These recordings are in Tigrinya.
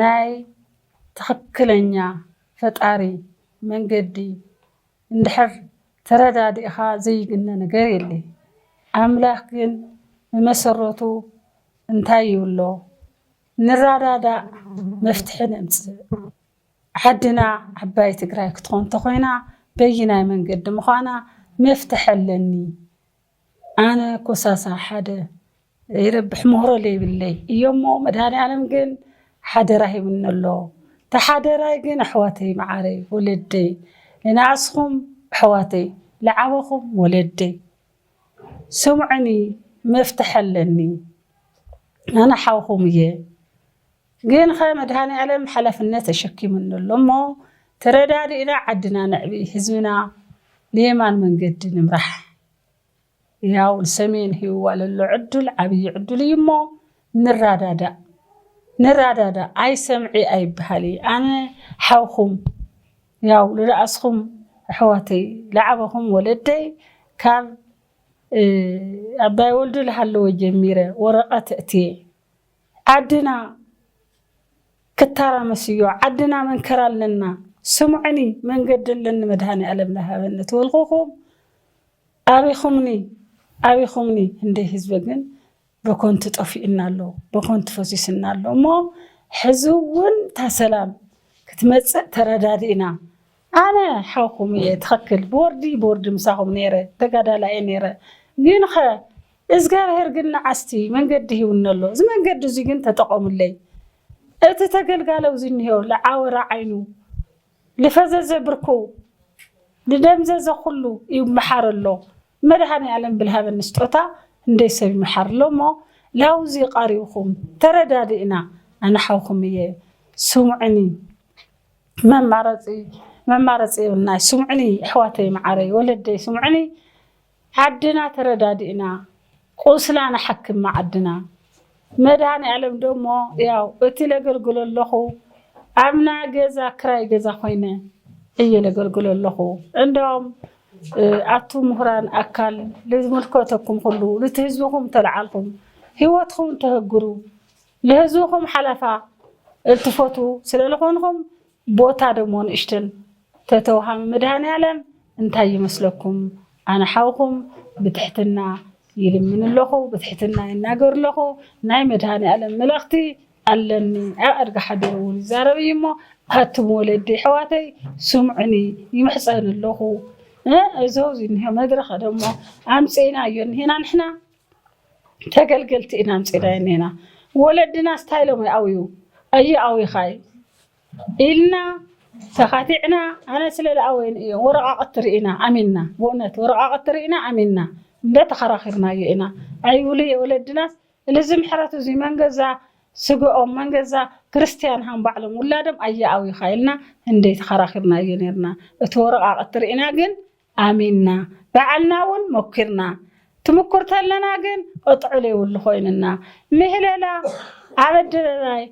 ናይ ትኽክለኛ ፈጣሪ መንገዲ እንድሕር ተረዳዲእኻ ዘይግነ ነገር የለይ። ኣምላኽ ግን ብመሰረቱ እንታይ ይብሎ ንራዳዳእ መፍትሒ ነምጽእ። ዓድና ዓባይ ትግራይ ክትኾን ተኾይና በይናይ መንገዲ ምዃና መፍትሒ ኣለኒ ኣነ ኮሳሳ ሓደ ይረብሕ ሞህሮ ለይብለይ እዩሞ መድሃኒኣለም ግን ሓደራ ሂብኒ ኣሎ ታሓደራይ ግን ኣሕዋተይ ማዓረይ ወለደይ ንናኣስኹም ኣሕዋተይ ልዓበኹም ወለደይ ስምዑኒ መፍትሒ ኣለኒ ኣነ ሓውኹም እየ ግንኸ መድሃኒኣለም ሓላፍነት ተሸኪሙኒ ኣሎ እሞ ተረዳዲእና ዓድና ነዕቢ ህዝብና ንየማን መንገዲ ንምራሕ ያው ንሰሜን ሂብዋ ለሎ ዕዱል ዓብዪ ዕዱል እዩ እሞ ንራዳዳእ ንራዳዳእ ኣይሰምዒ ኣይበሃሊ ኣነ ሓውኹም ያው ልነኣስኹም ኣሕዋተይ ልዓበኹም ወለደይ ካብ ኣባይ ወልዱ ልሃለወ ጀሚረ ወረቐት እእትየ ዓድና ክታራመስ እዮ ዓድና መንከራ ኣለና ስምዑኒ መንገዲ ኣለኒ መድሃኒኣለም ልሃበኒ ትብልኩኩም ኣቢኩምኒ ኣቢኩምኒ ህንደይ ህዝቢ ግን በኮንቱ ጠፊኡና ኣሎ በኮንቱ ፈሲሱና ኣሎ እሞ ሕዚ እውን ታሰላም ክትመፅእ ተረዳዲእና ኣነ ሓውኩም እየ ትክክል ብወርዲ ብወርዲ ምሳኩም ነይረ ተጋዳላይ እየ ነይረ ግንከ እዝጋብሄር ግን ንዓስቲ መንገዲ ሂቡኒ ኣሎ እዚ መንገዲ እዙይ ግን ተጠቀሙለይ እቲ ተገልጋሊ ኣብዚ እኒሆ ልዓወረ ዓይኑ ልፈዘዘ ብርኩ ልደምዘዘ ኩሉ ይመሓር ኣሎ መድሃኒኣለም ብልሃበኒ ስጦታ እንደይ ሰብ ይመሓር ኣሎ እሞ ላውዚ ቃሪብኩም ተረዳዲእና ኣነ ሓውኩም እየ ስሙዕኒ መማረፂ መማረፂ የብልናይ ስምዑኒ የሕዋተይ መዓረይ ወለደይ ስምዑኒ ዓድና ተረዳዲእና ቁስላ ንሓክም መዓድና መድሃኒኣለም ደሞ ያው እቲ ለገልግሎ ኣለኹ ኣብና ገዛ ክራይ ገዛ ኮይነ እየ ለገልግሎ ኣለኹ እንዶም ኣቱ ምሁራን ኣካል ልዝምልከተኩም ኩሉ ንቲ ህዝብኹም ተልዓልኹም ሂወትኹም ተህግሩ ልህዝብኹም ሓላፋ እልትፈትዉ ስለልኾንኹም ቦታ ደሞ ንእሽትን ተተውሃሚ መድሃኒኣለም እንታይ ይመስለኩም ኣነ ሓውኹም ብትሕትና ይልምን ኣለኹ ብትሕትና ይናገር ኣለኹ ናይ መድሃኒኣለም መልእኽቲ ኣለኒ ኣብ ኣድጊ ሓዲሩ ውን ይዛረብ እዩ እሞ ኣቱም ወለዲ ኣሕዋተይ ስምዑኒ ይምሕጸን ኣለኹ እእ እዞው ዝኒሆ መድረኽ ደሞ ኣምጺእናዮ እኒሀና ንሕና ተገልገልቲ ኢና ኣምፂእናዮ እኒና ወለድናስ እንታይ ኢሎም ይኣውዩ ኣይኣውዩኻይ ኢልና ተኻቲዕና ኣነ ስለ ዝኣወይን እዮ ወረቓቕቲ ርኢና ኣሚንና ብእውነት ወረቓቕቲ ርኢና ኣሚንና እንደ ተኸራኺርናዮ ኢና ኣይብሉ እየ ወለድናስ እልዚ ምሕረት እዙይ መንገዛ ስግኦም መንገዛ ክርስትያን ሃም ባዕሎም ውላዶም ኣይኣውዩኻ ኢልና እንደ ተኸራኺርናዮ ነርና እቲ ወረቓቕቲ ርኢና ግን ኣሚንና ባዕልና ውን ሞኪርና ትምኩር ተለና ግን ቕጥዕሉ የብሉ ኮይንና ምህለላ ኣብ ኣደባባይ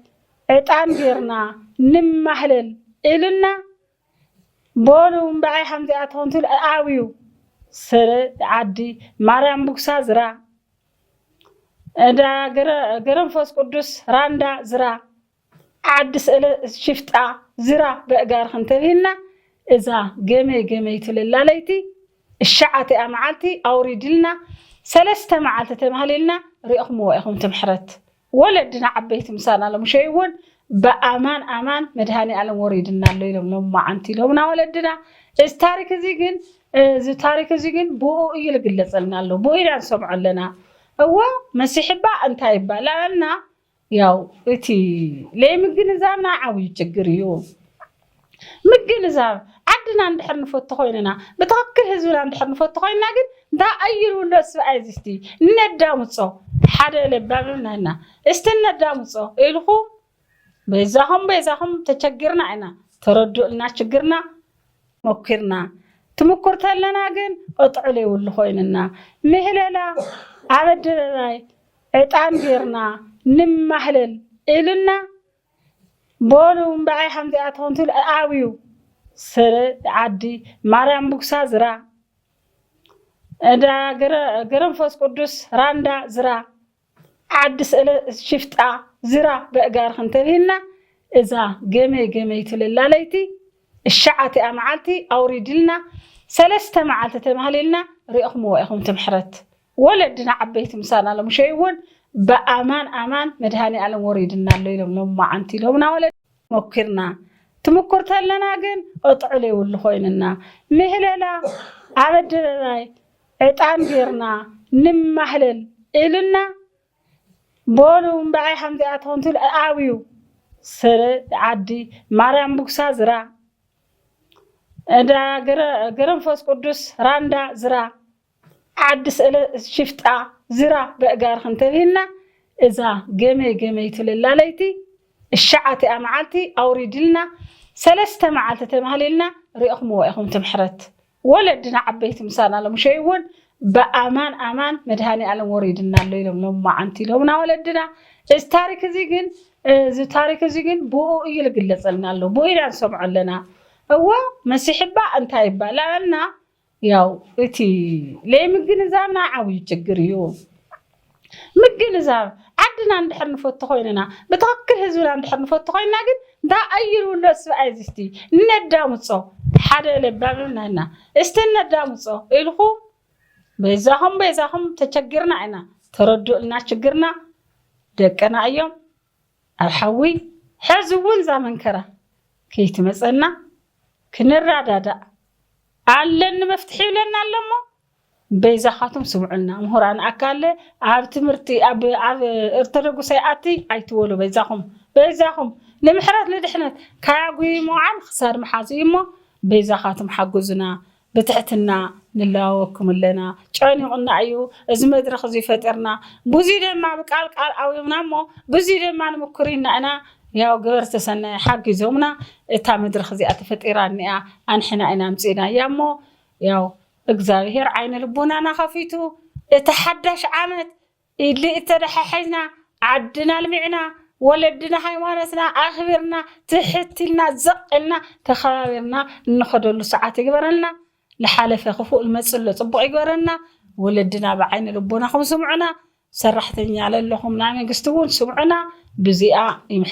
ዕጣን ገርና ንማህለል እልና በሉ እምበኣይ ሃምዚኣ ተኾንቱ ኣብዩ ሰለ ዓዲ ማርያም ቡግሳ ዝራ እዳ ገረንፎስ ቁዱስ ራንዳ ዝራ ዓዲ ስእለ ሽፍጣ ዝራ በእጋርኽ እንተብሂልና እዛ ገመይ ገመይ ትልላ ለይቲ እሻዓቲኣ መዓልቲ ኣውሪድልና ሰለስተ መዓልቲ ተማህሊልና ሪእኽምዎ ኢኹም ትምሕረት ወለድና ዓበይቲ ምሳና ለሙሸይ እውን ብኣማን ኣማን መድሃኒኣለም ወሪድና ኣሎ ኢሎም ሎማዓንቲ ኢሎምና ወለድና እዚ ታሪክ እዚ ግን እዚ ታሪክ እዚ ግን ብኡ እዩ ልግለጸልና ኣሎ ብኡ ኢና ንሰምዖ ኣለና እዎ መሲሕባ እንታይ ይባላልና ያው እቲ ለይምግንዛብና ዓብዩ ችግር እዩ ምግንዛብ ዓድና እንድሕር ንፈቱ ኮይንና ብትክክል ህዝብና እንድሕር ንፈቱ ኮይንና ግን እንዳ ኣይር ውሎ ስብኣይ እዚ እስቲ እነዳምፆ ሓደ ለባም ናይና እስቲ እነዳምፆ ኢልኩም በይዛኹም በይዛኹም ተቸግርና ኢና ተረዱእልና ችግርና ሞኪርና ትምኩር ተለና ግን ቅጥዑ ለይውሉ ኮይንና ምህለላ ኣብ ኣደባባይ ዕጣን ጌርና ንማህለል ኢሉና ቦኑ እምበኣይ ሃምዚኣ ትኾን ትብል ኣብዩ ሰለ ዓዲ ማርያም ቡግሳ ዝራ እዳ ገረንፎስ ቅዱስ ራንዳ ዝራ ዓዲ ስእለ ሽፍጣ ዝራ በእጋርኽን ተብሂልና እዛ ገመይ ገመይ ትልላ ለይቲ እሻዓቲኣ መዓልቲ ኣውሪድልና ሰለስተ መዓልቲ ተማህሊልና ሪእኹምዎ ኢኹም ትምሕረት ወለድና ዓበይቲ ምሳና ሎም ሸይ ውን ብኣማን ኣማን መድሃኒኣለም ወሪድና ኣሎ ኢሎም ሎማዓንቲ ኢሎምና ወለድና ሞኪርና ትምኩር ተለና ግን ቕጥዕል የብሉ ኮይኑና ምህለላ ኣብ ኣደባባይ ዕጣን ጌርና ንማህለል ኢሉና በሉ እምበኣይ ሃምዚኣ ተኾንትብል ኣብዩ ስረ ዓዲ ማርያም ቡግሳ ዝራ እዳ ገረንፎስ ቅዱስ ራንዳ ዝራ ዓዲ ስእለ ሽፍጣ ዝራ በእጋርኽ እንተብሂልና እዛ ገመይ ገመይ ትብል ላለይቲ እሻዓቲኣ መዓልቲ ኣውሪድልና ሰለስተ መዓልቲ ተማህሊልና ሪእኽምዎ ኢኹም ትምሕረት ወለድና ዓበይቲ ምሳና ለሙሸይ እውን ብኣማን ኣማን መድሃኒኣለም ወሪድና ኣሎ ኢሎም ሎማዓንቲ ኢሎምና ወለድና እዚ ታሪክ እዚ ግን እዚ ታሪክ እዚ ግን ብኡ እዩ ልግለጸልና ኣሎ ብኡ ኢና ንሰምዖ ኣለና እወ መሲሕባ እንታይ ይባላልና ያው እቲ ለይምግንዛብና ዓብዩ ችግር እዩ ምግንዛብ ዓድና እንድሕር ንፈቱ ኮይንና ብትክክል ህዝብና እንድሕር ንፈቱ ኮይንና ግን እንዳ ኣዩር ውሎ ስብኣይ ዝስቲ እነዳምፆ ሓደ ለባም ናይና እስቲ እነዳምፆ ኢልኩም በይዛኹም በይዛኹም ተቸግርና ኢና ተረዱእልና ችግርና ደቅና እዮም ኣብ ሓዊ ሐዚ እውን እዛ መንከራ ከይትመፀና ክንራዳዳእ ኣለኒ መፍትሒ ይብለና ኣሎ እሞ በይዛኻቱም ስምዑልና ምሁራን ኣካል ኣብ ትምህርቲ ኣብ ኣብ እርተደጉስ ኣይኣቲ ኣይትበሉ በይዛኹም በይዛኹም ንምሕረት ንድሕነት ካያጉይ ሞዓል ክሳድ ምሓዙ እዩ እሞ በይዛኻቱም ሓጉዙና ብትሕትና ንለዋወኩም ኣለና ጨኒቁና እዩ እዚ መድረክ እዙይ ፈጢርና ብዙይ ደማ ብቃል ቃል ኣውዮምና እሞ ብዙይ ደማ ንምኩር ኢና እና ያው ገበርቲ ሰናይ ሓጊዞምና እታ መድረክ እዚኣ ተፈጢራ እኒኣ ኣንሕና ኢና ኣምፂእናያ እሞ ያው እግዛብሄር ዓይነ ልቦናና ከፊቱ እቲ ሓዳሽ ዓመት ኢድሊ እተተሓሒዝና ዓድና ኣልሚዕና ወለድና ሃይማኖትና ኣኽቢርና ትሕት ኢልና ዘቕ ኢልና ተኸባቢርና እንኸደሉ ሰዓት ይግበረልና ልሓለፈ ክፉእ ልመጽእ ኣሎ ጽቡቕ ይግበረልና ወለድና ብዓይኒ ልቦናኹም ስምዑና ሰራሕተኛ ለለኹም ናይ መንግስቲ ውን ስምዑና ብዚኣ